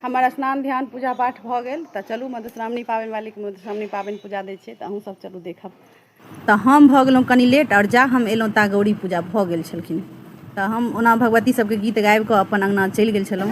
हमर स्नान ध्यान पूजा पाठ भऽ गेल तऽ चलू मधुश्रावणी पाबनि वालीके मधुश्रावणी पाबनि पूजा दै छियै तऽ अहूँसभ चलू देखब तऽ हम भऽ गेलहुँ कनि लेट आओर जा हम एलहुँ ता गौरी पूजा भऽ गेल छलखिन तऽ हम ओना भगवती सभके गीत गाबि कऽ अपन अङ्गना चलि गेल छलहुँ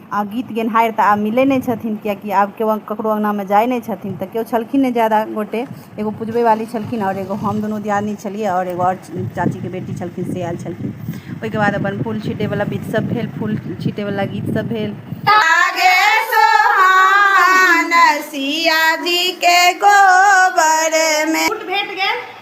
आ गीत गेनहारि तऽ आब मिलै नहि छथिन कियाकि आब केओ ककरो अङ्गनामे जाइ नहि छथिन तऽ केओ छलखिन नहि ज्यादा गोटे एगो पुजबै वाली छलखिन आओर एगो हम दुनू दियादनी छलियै आओर एगो आओर चाचीके बेटी छलखिन से आयल छलखिन ओहिके बाद अपन फूल छीटै वाला विध सब भेल फूल छीटै वाला गीत सब भेल आगे सोहान सिया जी के गोबर में भेट गेल